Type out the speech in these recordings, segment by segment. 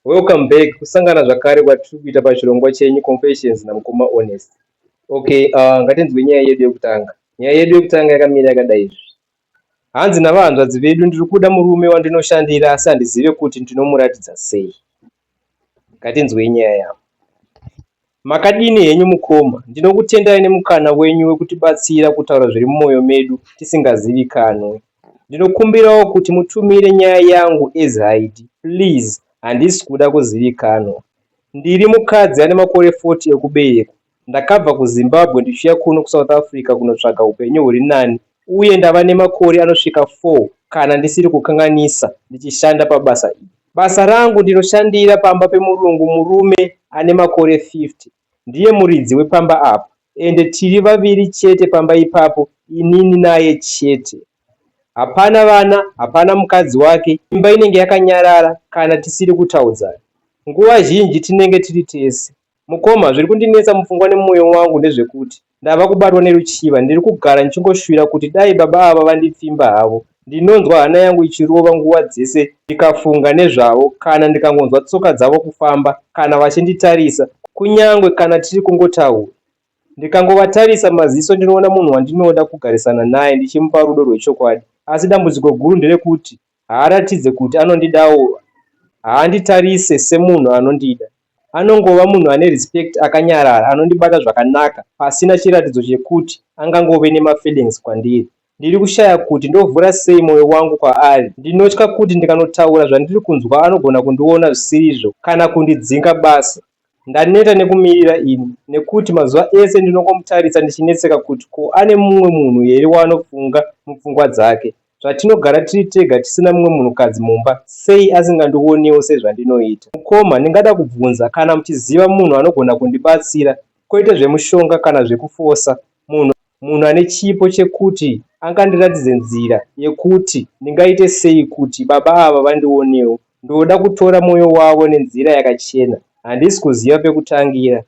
Welcome back kusangana zvakare kwatiri kuita pachirongwa chenyu Confessions namukoma Honest. Okay, uh, ngatinzwe nyaya yedu yekutanga. Nyaya yedu yekutanga yakamira yakadai izvi. Hanzi navahanzvadzi vedu ndiri kuda murume wandinoshandira asi handizive kuti ndinomuratidza sei. Ngatinzwei nyaya yavo. Makadini henyu mukoma, ndinokutendai nemukana wenyu wekutibatsira kutaura zviri mumoyo medu tisingazivikanwe. Ndinokumbirawo kuti mutumire nyaya yangu as hide, please handisi kuda kuzivikanwa. Ndiri mukadzi ane makore 40 ekuberekwa, ndakabva kuZimbabwe ndichiuya kuno kuSouth Africa kunotsvaga hupenyu huri nani uye ndava nemakore anosvika 4 kana ndisiri kukanganisa ndichishanda pabasa iri. Basa rangu ndinoshandira pamba pemurungu murume ane makore 50 ndiye muridzi wepamba apa ende tiri vaviri chete pamba ipapo inini naye chete. Hapana vana, hapana mukadzi wake, imba inenge yakanyarara kana tisiri kutaudzana. Nguva zhinji tinenge tiri tese. Mukoma, zviri kundinetsa mupfungwa nemwoyo wangu ndezvekuti Ndava kubatwa neruchiva, ndiri kugara ndichingoshuvira kuti dai baba ava vandipfimba havo. Ndinonzwa hana yangu ichirova nguva dzese ndikafunga nezvavo kana ndikangonzwa tsoka dzavo kufamba kana vachinditarisa kunyangwe kana tiri kungotaura. Ndikangovatarisa maziso ndinoona munhu wandinoda kugarisana naye ndichimupa rudo rwechokwadi asi dambudziko guru nderekuti Haaratidze kuti anondidawo haanditarise semunhu anondida. Anongova munhu ane respect akanyarara anondibata zvakanaka pasina chiratidzo chekuti angangove nemafeelings kwandiri. Ndiri kushaya kuti ndovhura sei moyo wangu kwaari. Ndinotya kuti ndikanotaura zvandiri kunzwa anogona kundiona zvisirizvo kana kundidzinga basa. Ndaneta nekumirira ini nekuti mazuva ese ndinongomutarisa ndichinetseka kuti ko ane mumwe munhu here waanofunga mupfungwa dzake. Zvatinogara tiri tega tisina mumwe munhukadzi mumba sei asingandionewo sezvandinoita. Mukoma ndingada kubvunza kana muchiziva munhu anogona kundibatsira kwete zvemushonga kana zvekufosa munhu munhu ane chipo chekuti angandiratidze nzira yekuti ndingaite sei kuti baba ava vandionewo Ndoda kutora mwoyo wavo nenzira yakachena. Handisi kuziva pekutangira.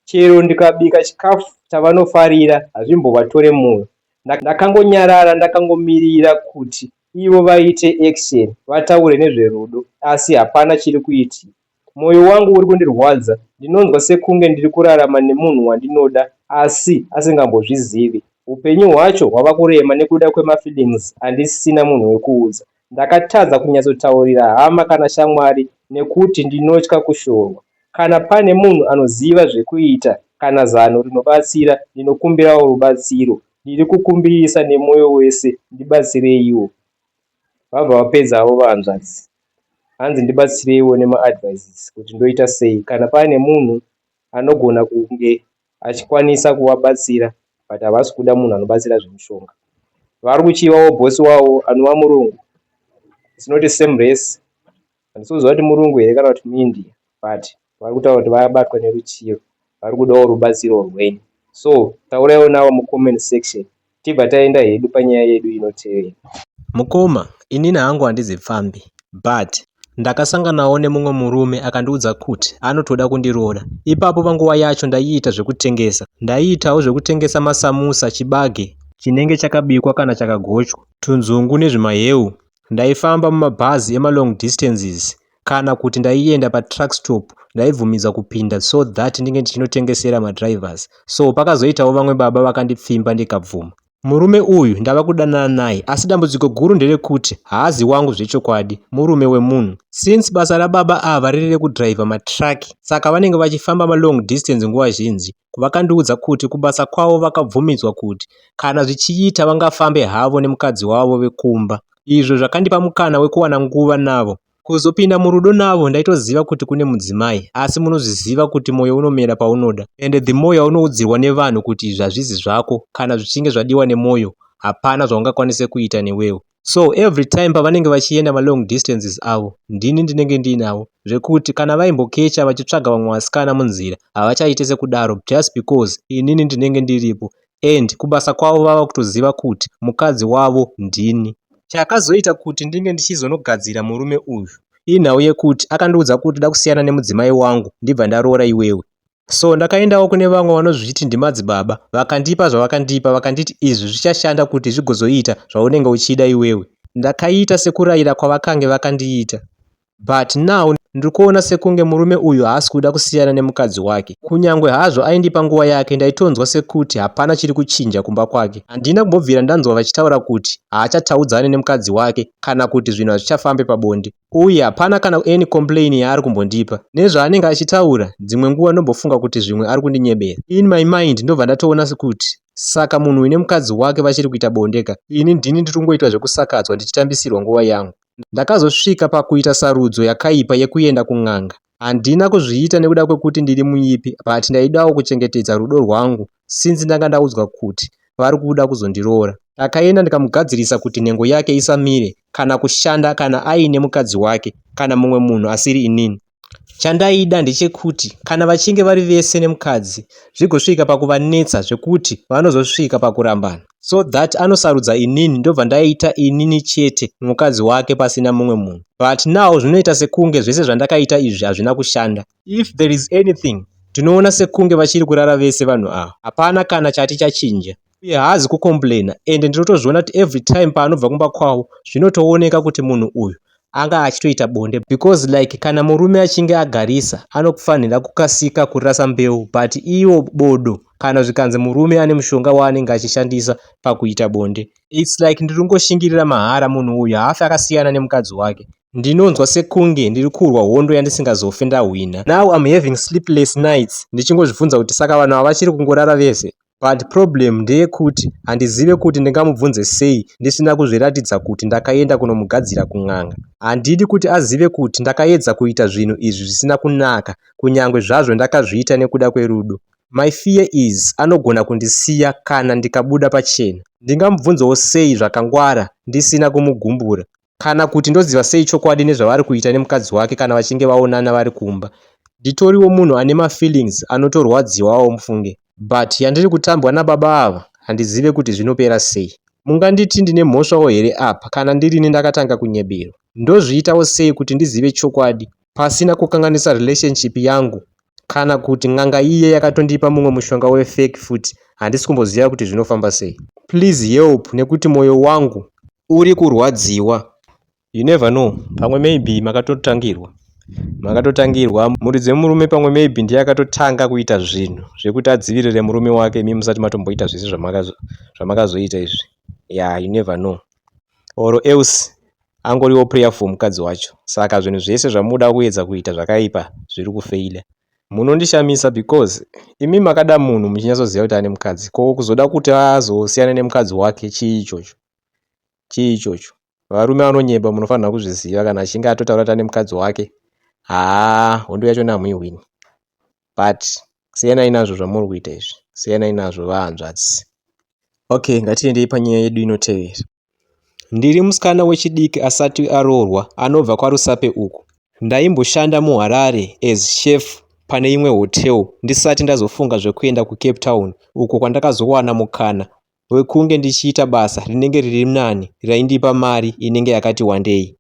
Chero ndikabika chikafu chavanofarira hazvimbovatore mwoyo. Ndakangonyarara ndakangomirira kuti ivo vaite action vataure nezverudo asi hapana chiri kuitika. Moyo wangu uri kundirwadza. Ndinonzwa sekunge ndiri kurarama nemunhu wandinoda asi asingambozvizivi. Hupenyu hwacho hwava kurema nekuda kwemafeelings andisina munhu wekuudza. Ndakatadza kunyatsotaurira hama kana shamwari nekuti ndinotya kushorwa. Kana pane munhu anoziva zvekuita kana zano rinobatsira ndinokumbirawo rubatsiro. Ndiri kukumbirisa nemoyo wese ndibatsireiwo. Vabva vapedzavo vahanzvadzi. Hanzi ndibatsireiwo nema advices kuti ndoita sei kana pane munhu anogona kunge achikwanisa kuvabatsira but havasi kuda munhu anobatsira zvemushonga. Vari kuchivawo boss wavo anova murungu. It's not a same race. Handisi kuziva kuti murungu here kana kuti muIndia but vari kutaura kuti vabatwa neruchiyo vari kudawo rubatsiro rwenyu. So tauraiwo navo mucomment section Tibva taenda hedu panyaya yedu inotevera. Mukoma, inini hangu handizi pfambi but ndakasanganawo nemumwe murume akandiudza kuti anotoda kundiroora. Ipapo panguva yacho ndaiita zvekutengesa. Ndaiitawo zvekutengesa masamusa, chibage chinenge chakabikwa kana chakagochwa, tunzungu nezvimaheu. Ndaifamba mumabhazi emalong distances kana kuti ndaienda patruck stop ndaibvumidzwa kupinda so that ndinge ndichinotengesera madrivers so pakazoitawo vamwe baba vakandipfimba ndikabvuma murume uyu ndava kudanana naye asi dambudziko guru nderekuti haazi wangu zvechokwadi murume wemunhu since basa rababa ava riri rekudriver matruck saka vanenge vachifamba malong distance nguva zhinji vakandiudza kuti kubasa kwavo vakabvumidzwa kuti kana zvichiita vangafambe havo nemukadzi wavo vekumba izvo zvakandipa mukana wekuwana nguva navo. Kuzopinda murudo navo ndaitoziva kuti kune mudzimai asi munozviziva kuti moyo unomera paunoda and the more yaunoudzirwa nevanhu kuti izvi hazvizi zvako kana zvichinge zvadiwa nemoyo hapana zvaungakwanise kuita newewo. so every time pavanenge vachienda malong distances avo ndini ndinenge ndiinavo zvekuti kana vaimbokecha vachitsvaga vamwe vasikana munzira havachaite sekudaro just because inini ndinenge ndiripo and kubasa kwavo vava kutoziva kuti mukadzi wavo ndini chakazoita kuti ndinge ndichizonogadzira murume uyu inhau yekuti akandiudza kuti da kusiyana nemudzimai wangu ndibva ndaroora iwewe So ndakaendawo kune vamwe vanozviti ndimadzibaba vakandipa zvavakandipa vakanditi izvi zvichashanda kuti zvigozoita zvaunenge uchida iwewe. Ndakaita sekuraira kwavakange vakandiita but now ndiri kuona sekunge murume uyu haasi kuda kusiyana nemukadzi wake. Kunyangwe hazvo aindipa nguva yake ndaitonzwa sekuti hapana chiri kuchinja kumba kwake. Handina kumbobvira ndanzwa vachitaura kuti haachataudzane nemukadzi wake kana kuti zvinhu hazvichafambe pabonde. uye hapana kana any complain yaari kumbondipa nezvaanenge achitaura dzimwe nguva ndombofunga kuti zvimwe ari kundinyebera in my mind ndobva ndatoona sekuti saka munhu uine mukadzi wake vachiri kuita bonde ka ini ndini ndiri kungoitwa zvekusakadzwa ndichitambisirwa nguva yangu ndakazosvika pakuita sarudzo yakaipa yekuenda kun'anga Handina kuzviita nekuda kwekuti ndiri muipi but ndaidawo kuchengetedza rudo rwangu since ndanga ndaudzwa kuti vari kuda kuzondiroora. Ndakaenda ndikamugadzirisa kuti nhengo yake isamire kana kushanda kana aine mukadzi wake kana mumwe munhu asiri inini. Chandaida ndechekuti kana vachinge vari vese nemukadzi zvigosvika pakuvanetsa zvekuti vanozosvika pakurambana. so that anosarudza inini ndobva ndaita inini chete mukadzi wake pasina mumwe munhu but now zvinoita sekunge zvese zvandakaita izvi hazvina kushanda if there is anything tinoona sekunge vachiri kurara vese vanhu ava hapana kana chati chachinja uye haazi kucomplaina ende ndinotozviona kuti every time paanobva kumba kwavo zvinotooneka kuti munhu uyu anga achitoita bonde because like kana murume achinge agarisa anokufanira kukasika kurasa mbeu but iwo bodo kana zvikanzi murume ane mushonga waanenge achishandisa pakuita bonde its like ndiri kungoshingirira mahara munhu uyu haafi akasiyana nemukadzi wake ndinonzwa sekunge ndiri kurwa hondo yandisingazofe ndahwina now am having sleepless nights ndichingozvibvunza kuti saka vanhu ava vachiri kungorara vese But problem ndeyekuti handizive kuti ndingamubvunze sei ndisina kuzviratidza kuti ndakaenda kunomugadzira kun'anga. Handidi kuti azive kuti ndakaedza kuita zvinhu izvi zvisina kunaka kunyangwe zvazvo ndakazviita nekuda kwerudo. My fear is anogona kundisiya kana ndikabuda pachena. Ndingamubvunzewo sei zvakangwara ndisina kumugumbura? Kana kuti ndoziva sei chokwadi nezvavari kuita nemukadzi wake kana vachinge vaonana vari kumba. Nditoriwo munhu ane mafeelings anotorwadziwawo mufunge. But yandiri kutambwa nababa ava handizive kuti zvinopera sei. Munganditi ndine mhosvawo here apa kana ndirini ndakatanga kunyeberwa. Ndozviitawo sei kuti ndizive chokwadi pasina kukanganisa relationship yangu kana kuti n'anga iye yakatondipa mumwe mushonga wefake futi handisi kumboziva kuti zvinofamba sei. Please help nekuti moyo wangu uri kurwadziwa. You never know pamwe maybe makatotangirwa makatotangirwa mhuri dzemurume pamwe maybe ndiye akatotanga kuita zvinhu zvekuti adzivirire murume wake imi musati matomboita zvese zvamakazoita izvi ya you never know or else angoriwo prayer for mukadzi wacho saka zvinhu zvese zvamuda kuedza kuita zvakaipa zviri kufeila munondishamisa because imi makada munhu muchinyatsoziva kuti ane mukadzi ko kuzoda kuti azosiyana nemukadzi wake chii ichocho chii ichocho varume vanonyepa munofanirwa kuzviziva kana achinge atotaura kuti ane mukadzi wake haa hondo yacho namuihwini but siyanai nazvo zvamuri kuita izvi siyanai nazvo vahanzvadzi okay ngatiendei panyaya yedu inotevera ndiri musikana wechidiki asati aroorwa anobva kwarusape uku ndaimboshanda muharare as chef pane imwe hotel ndisati ndazofunga zvekuenda kucape town uko kwandakazowana mukana wekunge ndichiita basa rinenge riri nani raindipa mari inenge yakati wandei.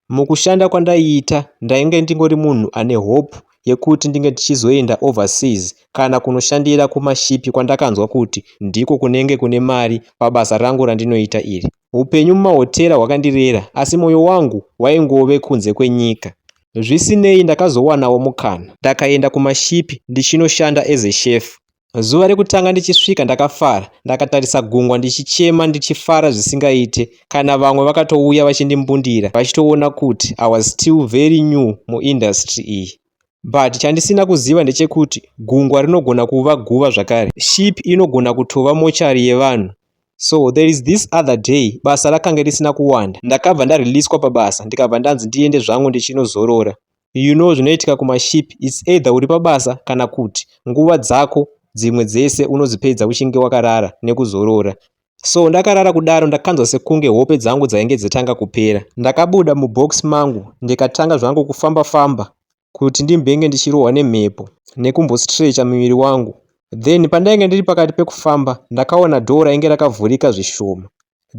Mukushanda kwandaiita ndainge ndingori munhu ane hope yekuti ndinge ndichizoenda overseas kana kunoshandira kumashipi kwandakanzwa kuti ndiko kunenge kune mari pabasa rangu randinoita iri. Upenyu mumahotera hwakandirera asi moyo wangu waingove kunze kwenyika. Zvisinei ndakazowanawo mukana ndakaenda kumashipi ndichinoshanda as a chef. Zuva rekutanga ndichisvika ndakafara, ndakatarisa gungwa ndichichema ndichifara zvisingaite. Kana vamwe vakatouya vachindimbundira vachitoona kuti I was still very new muindustry iyi. But chandisina kuziva ndechekuti gungwa rinogona kuva guva zvakare. Ship inogona kutova mochari yevanhu. So there is this other day basa rakange risina kuwanda. Ndakabva ndareleaswa pabasa ndikabva ndanzi ndiende zvangu ndichinozorora. you know zvinoitika kumaship its either uri pabasa kana kut nguva dzako dzimwe dzese unodzipedza uchinge wakarara nekuzorora so ndakarara kudaro ndakanzwa sekunge hope dzangu dzainge dzatanga kupera ndakabuda mubox mangu ndikatanga zvangu kufamba famba kuti ndimbenge ndichirohwa nemhepo nekumbostrecha miviri wangu then pandainge ndiri pakati pekufamba ndakaona dhoo rainge rakavhurika zvishoma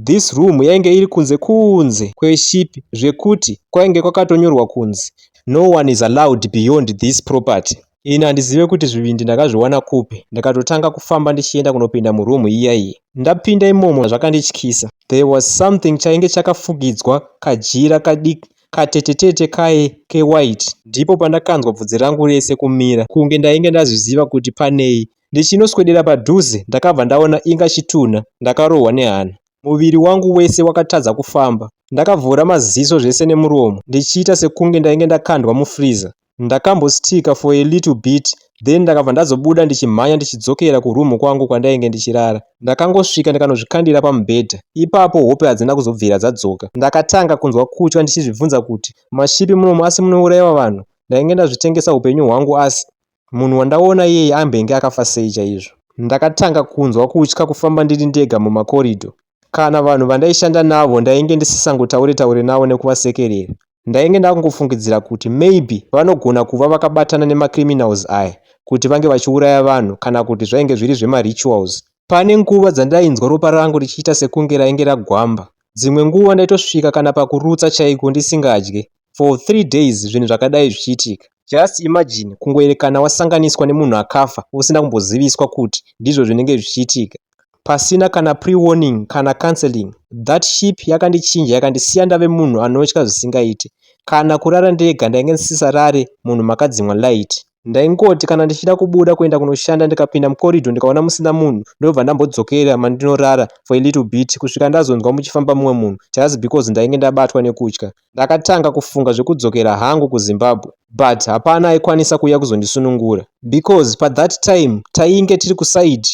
This room yainge iri kunze kunze kweship zvekuti kwainge kwakatonyorwa kunzi no one is allowed beyond this property. Ini handizive kuti zvivindi ndakazviwana kupi ndikatotanga kufamba ndichienda kunopinda muroom iya iyi. Ndapinda imomo zvakandityisa. There was something chainge chakafugidzwa kajira kadiki katetetete kaye kewhite. Ndipo pandakanzwa bvudzi rangu rese kumira kunge ndainge ndazviziva kuti panei Ndichinoswedera padhuze ndakabva ndaona inga chitunha ndakarohwa nehana. Muviri wangu wese wakatadza kufamba. Ndakavhura maziso zvese nemuromo ndichiita sekunge ndainge ndakandwa mufreezer. Ndakambo sticker for a little bit then ndakabva ndazobuda ndichimhanya ndichidzokera kuroom kwangu kwandainge ndichirara. Ndakangosvika ndikanozvikandira pamubhedha. Ipapo hope hadzina kuzobvira dzadzoka. Ndakatanga kunzwa kutya ndichizvibvunza kuti mashipi munomu asi munouraiwa vanhu? Ndainge ndazvitengesa hupenyu hwangu asi. Munhu wandaona iyeye ambenge akafa sei chaizvo? Ndakatanga kunzwa kutya kufamba ndiri ndega mumakoridho. Kana vanhu vandaishanda navo ndainge ndisisangotaure taure navo nekuvasekerera. Ndainge ndakungofungidzira kuti maybe vanogona kuva vakabatana nemacriminals aya kuti vange vachiuraya vanhu kana kuti zvainge zviri zvemarituals. Pane nguva dzandainzwa ropa rangu richiita sekunge rainge ragwamba. Dzimwe nguva ndaitosvika kana pakurutsa chaiko ndisingadye. for three days zvinhu zvakadai zvichiitika. Just imagine kungoerekana wasanganiswa nemunhu akafa usina kumboziviswa kuti ndizvo zvinenge zvichiitika pasina kana prewarning kana counseling. That ship yakandichinja yakandisiya ndave munhu anotya zvisingaite. Kana kurara ndega ndainge ndisisarare munhu makadzimwa light. Ndaingoti kana ndichida kubuda kuenda kunoshanda ndikapinda mucorridor ndikaona musina munhu ndobva ndambodzokera mandinorara for a little bit kusvika ndazonzwa muchifamba mumwe munhu just because ndainge ndabatwa nekutya. Ndakatanga kufunga zvekudzokera hangu kuZimbabwe but hapana aikwanisa kuuya kuzondisunungura because pa that time tainge tiri kuside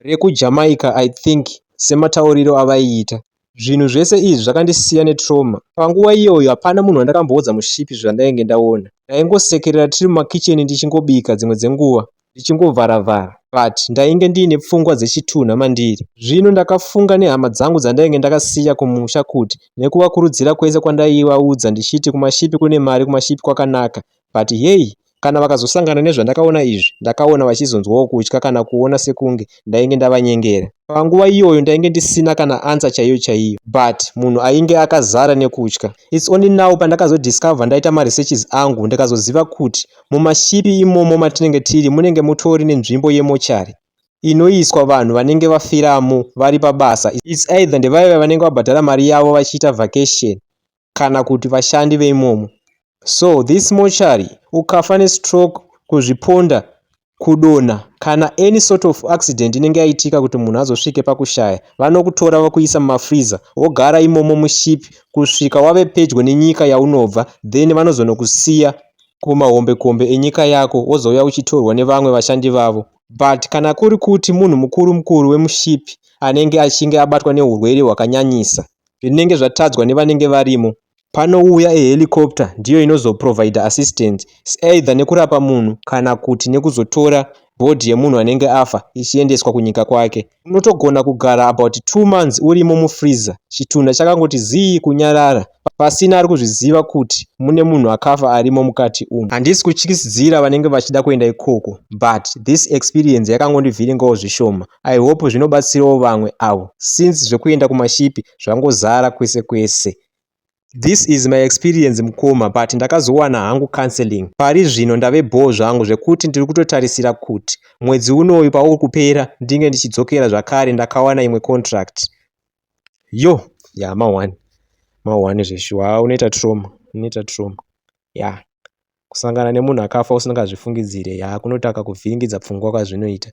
reku Jamaica I think sematauriro avaiita. Zvinhu zvese izvi zvakandisiya ne trauma. Panguva iyoyo hapana munhu wandakamboudza mushipi zvandainge ndaona. Ndaingosekerera tiri mumakitchen ndichingobika dzimwe dzenguva. ndichingovhara vhara but ndainge ndiine pfungwa dzechitunha mandiri. Zvino ndakafunga nehama dzangu dzandainge ndakasiya kumusha kut nekuvakurudzira kwese kwandaivaudza ndichiti kumashipi kune mari kumashipi kwakanaka but hey kana vakazosangana nezvandakaona izvi ndakaona vachizonzwawo kutya kana kuona sekunge ndainge ndavanyengera. Panguva iyoyo ndainge ndisina kana answer chaiyo chaiyo but munhu ainge akazara nekutya. Its only now pandakazodiscover ndaita maresearches angu ndikazoziva kut Mumashipi imomo matinenge tiri munenge mutori nenzvimbo yemochari inoiswa vanhu vanenge vafiramo vari pabasa. Its either ndevaiva vanenge vabhadhara mari yavo vachiita vacation kana kuti vashandi veimomo. So this mochari ukafa nestroke, kuzviponda, kudonha kana any sort of accident inenge yaitika kuti munhu azosvike pakushaya, vanokutora vokuisa mumafreezer wogara imomo muship kusvika wave pedyo nenyika yaunobva then vanozonokusiya kumahombekombe enyika yako wozouya uchitorwa nevamwe vashandi vavo but kana kuri kuti munhu mukuru mukuru wemushipi anenge achinge abatwa neurwere hwakanyanyisa zvinenge zvatadzwa nevanenge varimo panouya ehelicopter ndiyo inozoprovider assistance either nekurapa munhu kana kuti nekuzotora body yemunhu anenge afa ichiendeswa kunyika kwake. Unotogona kugara about two months urimo mufreezer chitunha chakangoti zii kunyarara pasina ari kuzviziva kuti mune munhu akafa arimo mukati umu. Handisi kutyisidzira vanenge vachida kuenda ikoko but this experience yakangondivhiringawo zvishoma. I hope zvinobatsirawo vamwe avo since zvekuenda kumashipi zvangozara kwese kwese. This is my experience mukoma but ndakazowana hangu counseling pari zvino ndave bhoo zvangu zvekuti ndiri kutotarisira kut mwedzi unoyu pauri kupera ndinge ndichidzokera zvakare ndakawana imwe contract yo ya ma one ma one zveshuwa unoita trauma unoita trauma ya kusangana nemunhu akafa usingazvifungidzire ya kunotaka kuvhiringidza pfungwa kwazvinoita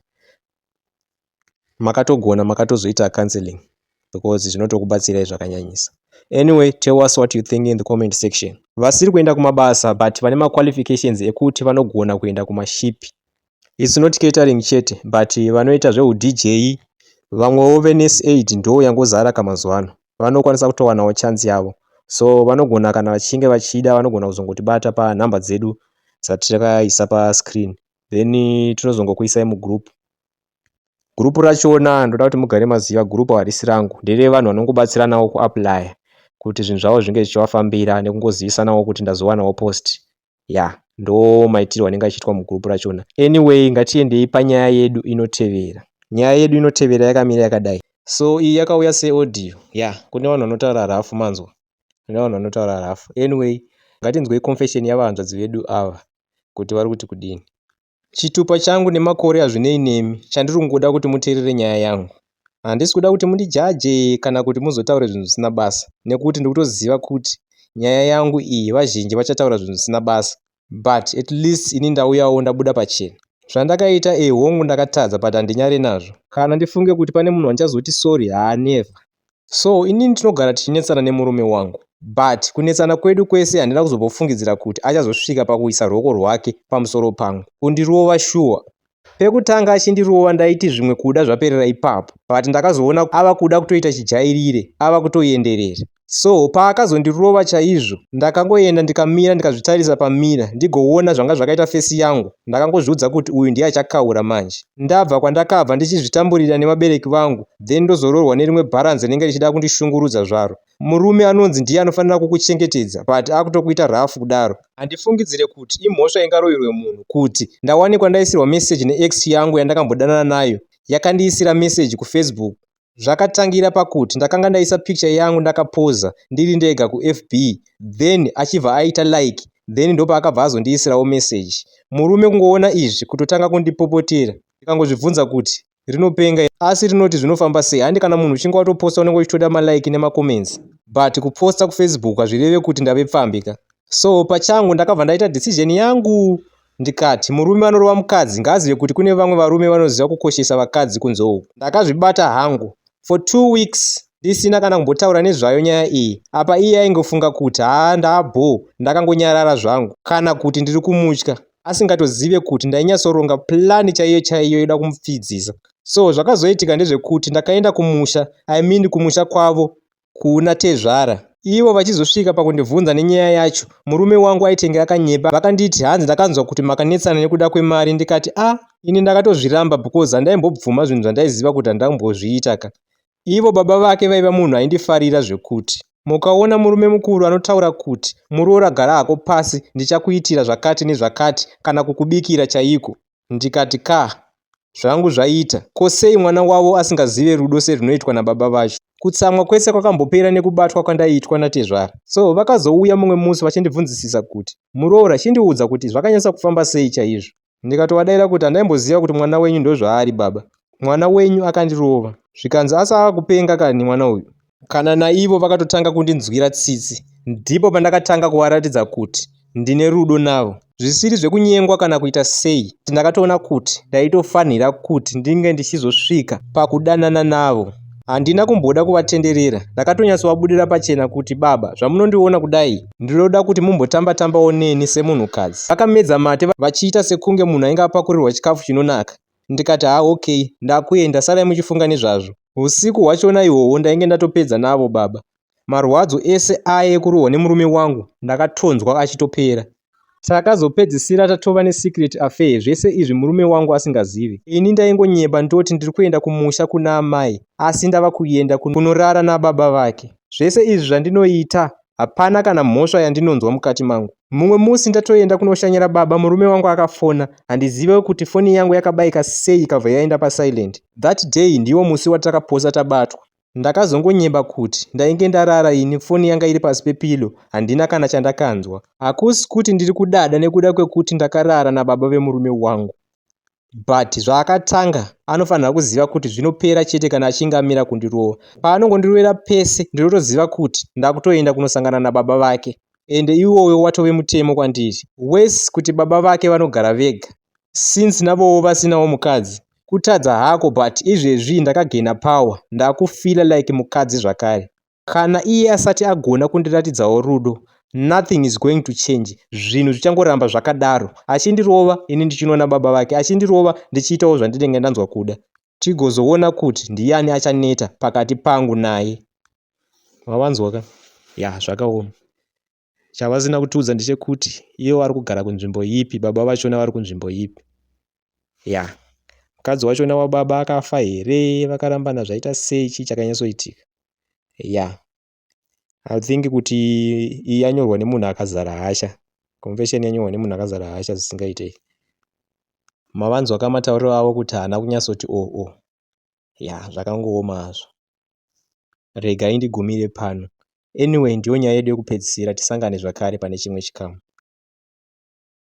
makatogona makatozoita counselling because zvinotokubatsirai zvakanyanyisa anyway tell us what you think in the comment section vasiri kuenda kumabasa but vane maqualifications ekuti vanogona kuenda kumashipi its not catering chete but vanoita zveudj vamwewo venes aid ndo yangozara kamazuva ano vanokwanisa kutowanawo chance yavo so vanogona kana vachinge vachida vanogona kuzongotibata panhamba dzedu dzatakaisa pascreen then tinozongokuisai mugroup group rachona ndoda kuti mugare maziva group harisi rangu ndere vanhu vanongobatsiranawo kuapply kuti zvinhu zvavo zvinge zvichivafambira nekungozivisanawo kuti ndazowanawo post ya yeah. ndo maitirwo anenge achiitwa mugroup rachona anyway ngatiendei panyaya yedu inotevera nyaya yedu inotevera yakamira yakadai so iyi yakauya seaudio ya yeah. kune vanhu vanotaura rafu manzwa kune vanhu vanotaura rafu anyway ngatinzwei confession yavanzvadzi vedu ava kuti vari kuti kudini. Chitupa changu nemakore hazvinei nemi, chandiri kungoda kuti muteerere nyaya yangu. Handisi kuda kuti mundijaje kana kuti muzotaure zvinhu zvisina basa nekuti ndiri kutoziva kuti nyaya yangu iyi vazhinji vachataura zvinhu zvisina basa but at least ini ndauyawo ndabuda pachena. Zvandakaita eeh hongu ndakatadza but handinyare nazvo. Kana ndifunge kuti pane munhu andichazoti sorry haa never. So inini tinogara tichinetsana nemurume wangu but kunetsana kwedu kwese handina kuzombofungidzira kuti achazosvika pakuisa ruoko rwake pamusoro pangu kundirova shuwa. Pekutanga achindirova ndaiti zvimwe kuda zvaperera ipapo but ndakazoona ava kuda kutoita chijairire ava kutoenderera. So paakazondirova chaizvo ndakangoenda ndikamira ndikazvitarisa pamirror ndigoona zvanga zvakaita face yangu ndakangozviudza kuti uyu ndiye achakaura manje. ndabva kwandakabva ndichizvitamburira nevabereki vangu then ndozoroorwa nerimwe bharanzi rinenge richida kundishungurudza zvaro murume anonzi ndiye anofanira kukuchengetedza but akutokuita rough kudaro handifungidzire kuti imhosva ingaroverwe munhu kuti ndawanikwa ndaisirwa message neex yangu yandakambodanana nayo yakandiisira message kufacebook Zvakatangira pakuti ndakanga ndaisa picture yangu ndakapoza ndiri ndega kuFB then achibva aita like then ndopaakabva azondiisirawo message. Murume kungoona izvi kutotanga kundipopotera ndikangozvibvunza kuti rinopenga here asi rinoti zvinofamba sei handi kana munhu uchinge watoposta unenge uchitoda malike nemacomments but kuposta kufacebook hazvireve kuti ndave pfambi ka. So pachangu ndakabva ndaita decision yangu Ndikati, murume anorova mukadzi ngaazive kuti kune vamwe varume vanoziva kukoshesa vakadzi kunze uku. Ndakazvibata hangu for two weeks ndisina kana kumbotaura nezvayo nyaya iyi. Apa iye aingofunga kuti haa ndaabhoo ndakangonyarara zvangu. Kana kuti ndiri kumutya asingatozive kuti ndainyatsoronga plan chaiyo chaiyo yoda kumupfidzisa. So zvakazoitika ndezvekuti ndakaenda kumusha, I mean kumusha kwavo kuna tezvara ivo vachizosvika pakundibvunza nenyaya yacho. Murume wangu aitenge akanyepa vakanditi hanzi ndakanzwa kuti makanetsana nekuda kwemari ndikati a ah, ini ndakatozviramba because handaimbobvuma zvinhu zvandaiziva kuti handambozviita ka. Ivo baba vake vaiva munhu aindifarira zvekuti. Mukaona murume mukuru anotaura kuti muroora gara hako pasi ndichakuitira zvakati nezvakati kana kukubikira chaiko. ndikati kah zvangu zvaita ko sei mwana wavo asingazive rudo serwunoitwa nababa vacho kutsamwa kwese kwakambopera nekubatwa kwandaiitwa natezvara so vakazouya mumwe musi vachindibvunzisisa kuti muroora chindiudza kuti zvakanyatsa kufamba sei chaizvo ndikatovadaira kuti handaimboziva kuti mwana wenyu ndozvaari baba mwana wenyu akandirova zvikanzi asi ava kupenga kani mwana uyu kana naivo vakatotanga kundinzwira tsitsi ndipo pandakatanga kuvaratidza kuti ndine rudo navo zvisiri zvekunyengwa kana kuita sei ndakatoona kuti ndaitofanhira kuti ndinge ndichizosvika pakudanana navo handina kumboda kuvatenderera ndakatonyatsovabudirira pachena kuti baba zvamunondiona kudai ndinoda kuti mumbotamba tambawo neni semunhukadzi vakamedza mate vachiita sekunge munhu ainge apakurirwa chikafu chinonaka ndikati haa ok ndakuenda sarai muchifunga nezvazvo. Husiku hwachona ihwohwo ndainge ndatopedza navo baba. Marwadzo ese aye ekurohwa nemurume wangu ndakatonzwa achitopera. Takazopedzisira tatova nesecret affair zvese izvi murume wangu asingazive. Ini ndaingonyepa ndoti ndiri kuenda kumusha kuna amai asi ndava kuenda kunorara nababa vake. Zvese izvi zvandinoita Hapana kana mhosva yandinonzwa mukati mangu. Mumwe musi ndatoenda kunoshanyira baba murume wangu akafona handizive kuti foni yangu yakabaika sei ikabva yaenda pasilent. That day ndiwo musi watakaposa tabatwa. Ndakazongonyeba kuti ndainge ndarara ini foni yanga iri pasi pepillow handina kana chandakanzwa. Hakusi kuti ndiri kudada nekuda kwekuti ndakarara nababa vemurume wangu. but zvaakatanga anofanirwa kuziva kuti zvinopera chete kana achinge amira kundirova paanongondirwera pese ndinotoziva kuti ndakutoenda kunosangana nababa vake ende iwoyo watove mutemo kwandiri wes kuti baba vake vanogara vega since navowo vasinawo mukadzi kutadza hako but izvezvi ndakagena power ndakufila like mukadzi zvakare Kana iye asati agona kundiratidzawo rudo, nothing is going to change. Zvinhu zvichangoramba zvakadaro. Achindirova, ini ndichinoona baba vake. Achindirova, ndichiitawo zvandinenge ndanzwa kuda. Tigozoona kuti ndiyani achaneta pakati pangu naye. Mavanzwa ka? Ya, zvakaoma. Chavasina kutiudza ndechekuti ivo vari kugara kunzvimbo ipi, baba vachona vari kunzvimbo ipi. Ya. Mukadzi wachona wababa akafa here, vakarambana zvaita sei, chii chakanyatsoitika. Ya. I think kuti iyi yanyorwa nemunhu akazara hasha. Confession yanyorwa nemunhu akazara hasha zvisingaitei. Mavanzwa kamatauriro avo kuti haana kunyatsoti o oh, o. Oh. yaa zvakangooma hazvo rega indigumire pano anyway ndiyo nyaya yedu yekupedzisira tisangane zvakare pane chimwe chikamu.